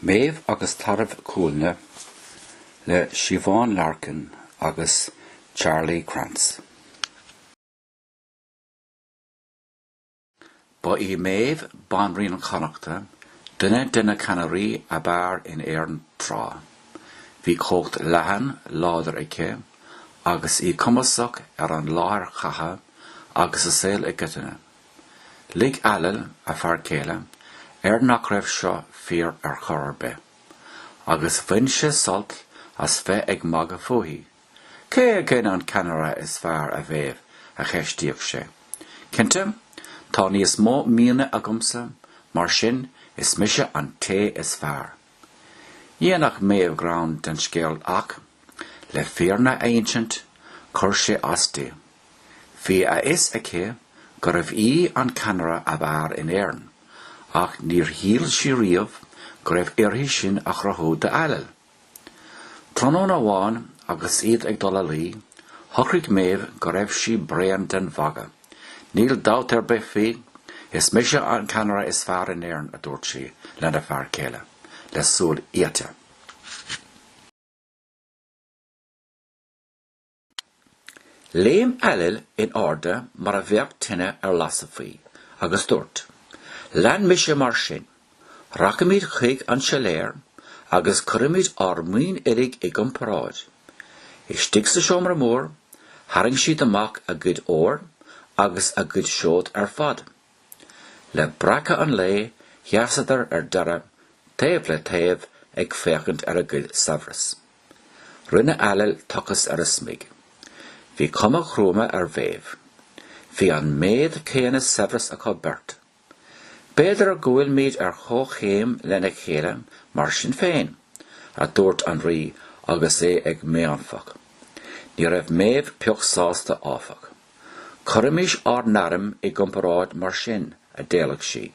Méabh agus Tarbh Cúailnge le Siobhán Larkin agus Charlie Krantz. Ba í Méabh Banríon Chonnacht, duine de na ceannairí ab fhearr in Éirinn tráth. Bhí cumhacht leathan, láidir aici, agus í cumasach ar an láthair chatha agus sa saol i gcoitinne. Lig Ailill, a fear céile, air nach raibh seo fíor ar chor ar bith, agus bhain sé sult as bheith ag magadh fúithi. Cé againn an ceannaire is fearr, a Mhéabh? a cheistíodh sé. Cinnte, tá níos mó maoine agamsa, mar sin, is mise an té is fearr! Dhéanfadh Méabh greann den scéal ach, le fírinne a insint, chuir sé as di. Bhí a fhios aici gurbh í an ceannaire ab fhearr in Éirinn ach níor shíl sí riamh go raibh uirthi sin a chruthú d'Ailill. Tráthnóna amháin agus iad ag dul a luí, shocraigh Méabh go raibh sí bréan den mhagadh. Níl dabht ar bith faoi, is mise an ceannaire is fearr in Éirinn, a dúirt sí lena fear céile, le súil fhíochta. Léim Ailill in airde mar a bheadh tine ar lasadh faoi, agus dúirt, Lean mise mar sin! Rachaimid chuig an siléar agus cuirfimid ár maoin uilig i gcomparáid. Istigh sa seomra mór, tharraing siad amach a gcuid óir agus a gcuid seod ar fad. Le breacadh an lae sheasadar ar deireadh taobh le taobh ag féachaint ar a gcuid saibhreas. Rinne Ailill tochas ar a smig. Bhí cuma ghruama ar Mhéabh. Bhí an méid céanna saibhreas acu beirt. B'fhéidir go bhfuilimid ar chomhchéim lena chéile mar sin féin, a dúirt an Rí agus é ag méanfach. Ní raibh Méabh pioc sásta, áfach. Cuirimís ár n-airm i gcomparáid mar sin, a d'éiligh sí.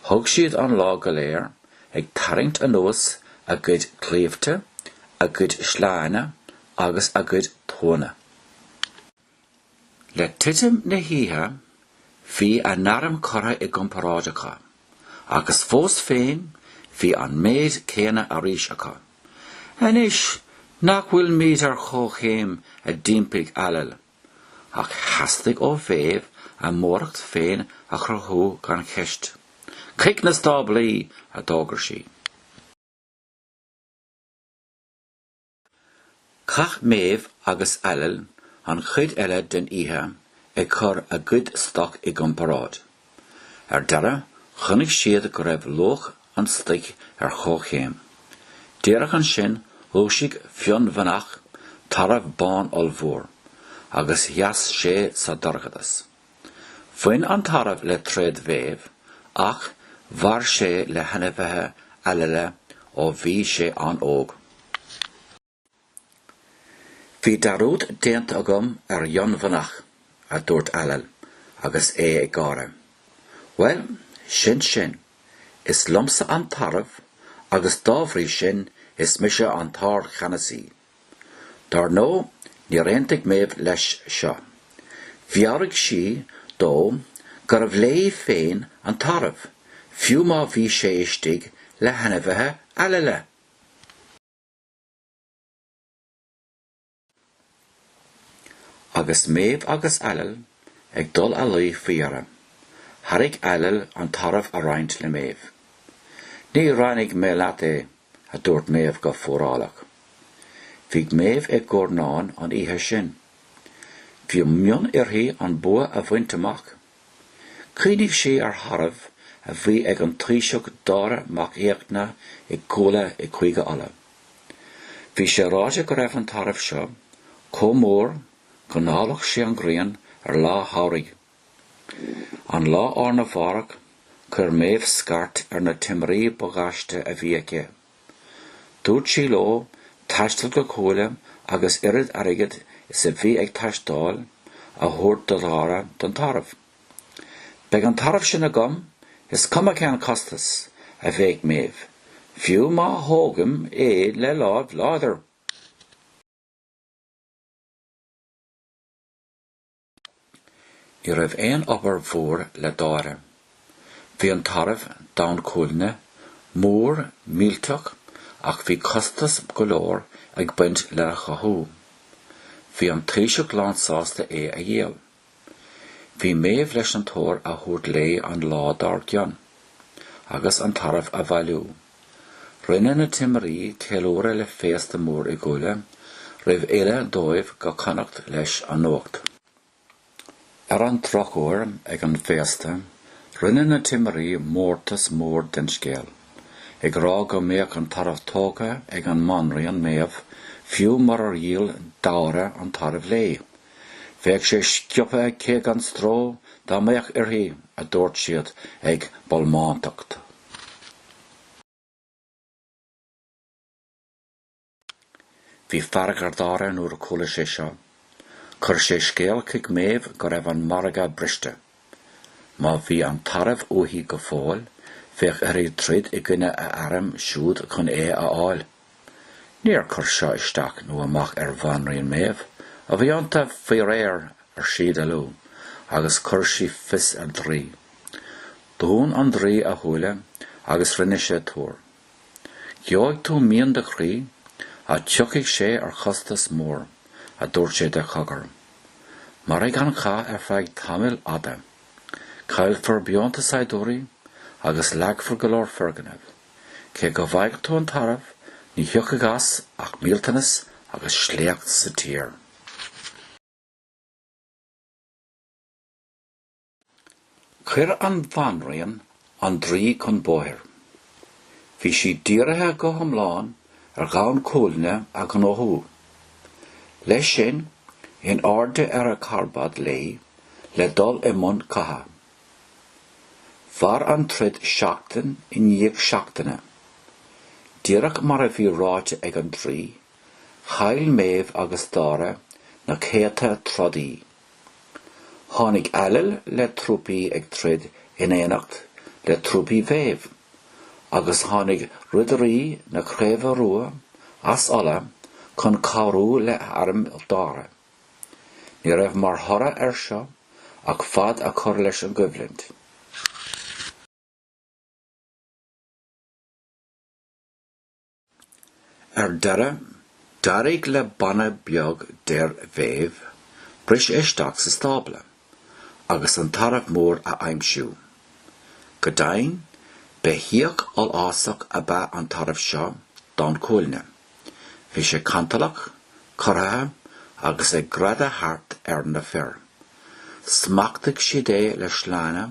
Thug siad an lá go léir ag tarraingt anuas a gcuid claímhte, a gcuid sleánna agus a gcuid tuanna. Le titim na hoíche bhí a n-airm curtha i gcomparáid acu agus fós féin bhí an méid céanna arís acu. Anois nach bhfuil muid ar chomhchéim a d'impigh Ailill ach theastaigh ó Mhéabh a móracht féin a chruthú gan cheist. Chuig na stáblaí a d'fhógair sí. Chaith Méabh agus Ailill an chuid eile den oíche ag cur a gcuid stoc i gcomparáid. Ar deireadh chonaic siad go raibh luach an stoic ar chomhchéim. Díreach ansin dhúisigh Fionnbheannach tarbh bán ollmhór agus sheas sé sa dorchadas. Bhain an Tarbh le tréad Mhéabh ach mhair sé le hainmhithe Ailella ó bhí sé an-óg. Bhí dearúd déanta agam ar Fhionnbheannach, a dúirt Ailill agus é ag gáire. Bhuel, sin sin. Is liomsa an tarbh agus dá bhrí sin is mise an tArdcheannasaí. Dar ndó níor aontaigh Méabh leis seo. Mheabhraigh sí dó gurbh léi féin an tarbh, fiú má bhí sé istigh le hainmhithe Ailella. Agus Méabh agus Ailill ag dul a luí faoi dheireadh, thairg Ailill an tarbh a roinnt le Méabh. Ní roinnfidh mé leat é, a dúirt Méabh go fuarálach. Bhí Méabh ag cnáfairt an oíche sin. Bhí mian uirthi an bua a bhaint amach. Chuimhnigh sí ar tharbh a bhí ag an Taoiseach Dáire Mac Fhiachna i gCuaille i gCúige Uladh. Bhí sé ráite go raibh an tarbh seo chomh mór go ndallfadh sé an ghrian ar lá samhraidh. An lá arna mhárach, chuir Méabh scairt ar na timirí ba ghaiste a bhí aici. Dúirt sí leo taisteal go Cuaille agus oiread airgid is a bhí ag teastáil a thabhairt do Dháire don tarbh. Beidh an tarbh sin agam, is cuma cén costas, a bhéic Méabh, fiú má thógaim é le láimh láidir! Ní raibh aon obair mhór le Dáire. Bhí an Tarbh, Donn Cuailnge, mór, millteach ach bhí costas go leor ag baint lena chothú. Bhí an Taoiseach lán sásta é a dhíol. Bhí Méabh leis an t-ór a thabhairt léi an lá dár gcionn agus an Tarbh a bhailiú. Rinne na timirí ceiliúradh le féasta mór i gCuaille roimh fhilleadh dóibh go Connacht leis an nuacht. Ar an drochuair ag an bhféasta rinne na timirí mórtas mór den scéal, ag rá go mbeadh an tarbh tógtha ag an mBanríon Méabh fiú murar dhíol Dáire an tarbh léi. Bheadh sé sciobtha aici gan stró dá mbeadh uirthi, a dúirt siad ag bolmantacht. Bhí fearg ar Dháire nuair a chuala sé seo. Chuir sé scéal chuig Méabh go raibh an margadh briste. Má bhí an tarbh uaithi go fóill, bheadh uirthi troid i gcoinne a airm siúd chun é a fháil. Níor chuir seo isteach nó amach ar bhanríon Méabh. Bíodh an t-arm faoi réir, ar sí de liú, agus chuir sí fios ar draoi. Dún an draoi a shúile agus rinne sé tuar. Gheobhaidh tú mian do chroí, ach tiocfaidh sé ar chostas mór, a dúirt sé de chogar. Mairfidh an cath ar feadh tamaill fhada. Caillfear beonta saighdiúirí agus leagfar go leor foirgnimh. Cé go bhfaighidh tú an tarbh, ní thiocfaidh as ach millteanas agus sléacht sa tír. Chuir an bhanríon an draoi chun bóthair. Bhí sí dírithe go hiomlán ar Dhonn Cuailgne a ghnóthú. Leis sin, in airde ar a carbad léi le dul i mbun catha. Mhair an troid seachtain i ndiaidh seachtaine. Díreach mar a bhí ráite ag an draoi, chaill Méabh agus Dáire na céadta trodaí. Tháinig Ailill le trúpaí ag troid in éineacht le trúpaí Mhéabh, agus tháinig Ridirí na Craoibhe Rua as Uladh chun cabhrú le airm Dháire. Ní raibh mar thoradh ar seo ach fad a chur leis an gcoimhlint. Ar deireadh, d'éirigh le banna beag d'fhir Mhéabh briseadh isteach sa stábla agus an tarbh mór a aimsiú. Go deimhin, beithíoch ollásach ab ea an tarbh seo, Donn Cuailgne. Bhí sé cantalach, corraithe agus ag greadadh thart ar na fir. Smachtaigh siad é le sleánna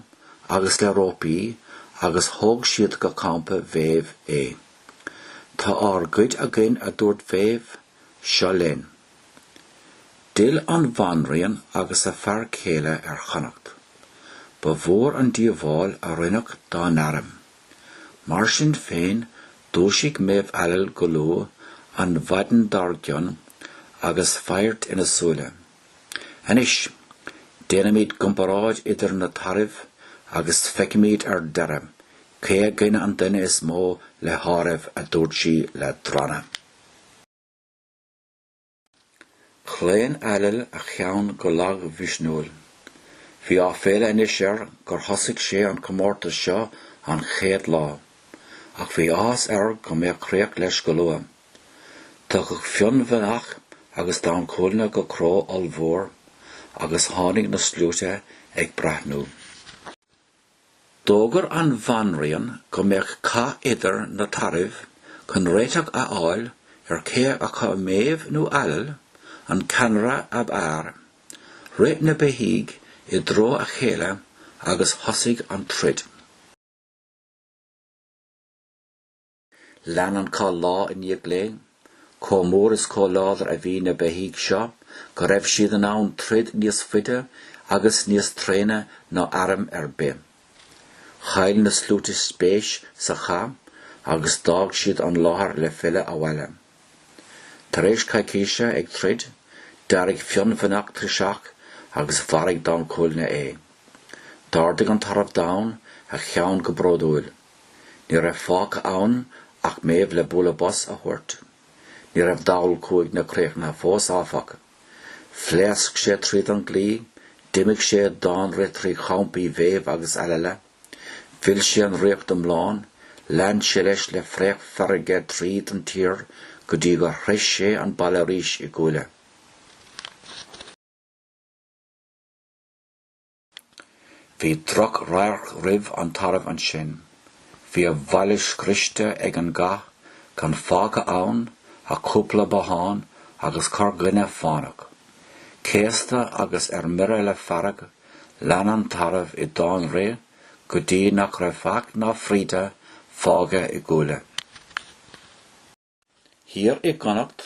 agus le rópaí agus thóg siad go campa Mhéabh é. Tá ár gcuid againn a dúirt Mhéabh, seo linn. D'fhill an bhanríon agus a fear céile ar Chonnacht. Ba mhór an díobháil a rinneadh dá n-airm. Mar sin féin dúisigh Méabh Ailill go luath an mhaidin dár gcionn agus faghairt ina súile. Anois, déanaimis comparáid idir na tairbh agus feicfimid ar deireadh cé againn an duine is mó le háireamh a dúirt sí le drannadh. Chlaon Ailill a cheann go lag mhisniúil. Bhí áiféala anois air gur thosaigh sé an comórtas seo an chéad lá, ach bhí áthas air go mbeadh críoch leis go luath. Tugadh Fionnbheannach agus Donn Cuailgne go cró ollmhór agus tháinig na sluaite ag breathnú. D'fhógair an bhanríon go mbeadh cath idir na tairbh chun réiteach a fháil ar cé acu Méabh nó Ailill an ceannaire ab fhearr. Rith na beithígh i dtreo a chéile agus thosaigh an troid. Lean an cath lá i ndiaidh lae. Chomh mór is chomh láidir a bhí na beithígh seo go raibh siad in ann troid níos faide agus níos tréine ná airm ar bith. Chaill na sluaite spéis sa chath agus d'fhág siad an láthair le filleadh abhaile. Tar éis coicíse ag troid, d'éirigh Fionnbheannach tuirseach agus mharaigh Donn Cuailgne é. D'ardaigh an tarbh donn a cheann go bródúil. Ní raibh fágtha ann ach Méabh le bualadh bos a thabhairt. Ní raibh Donn Cuailgne críochnaithe fós, áfach. Phléasc sé tríd an gclaí, d'imigh sé i dtáinrith trí champaí Mhéabh agus Ailella. Mhill sé an Ríocht iomlán, lean sé leis le fraoch feirge tríd an tír go dtí gur shroich sé an baile arís i gCuaille. Bhí drochradharc roimh an tarbh ansin. Bhí a bhaile scriosta ag an gcath, gan fágtha ann ach cúpla bothán agus corrdhuine fánach. Céasta agus ar mire le fearg, lean an tarbh i dtáinrith go dtí nach raibh faic ná fríde fágtha i gCuaille. Thiar i gConnacht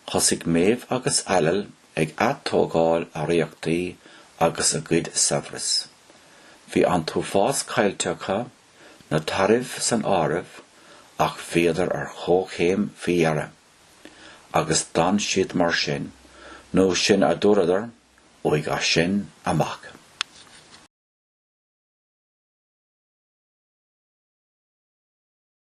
thosaigh Méabh agus Ailill ag atógáil a ríochtaí agus a gcuid saibhreas. Bhí an t-uafás caillte acu, na tairbh san áireamh, ach bhíodar ar chomhchéim faoi dheireadh. Agus d'fhan siad mar sin, nó sin a dúradar, uaidh sin amach.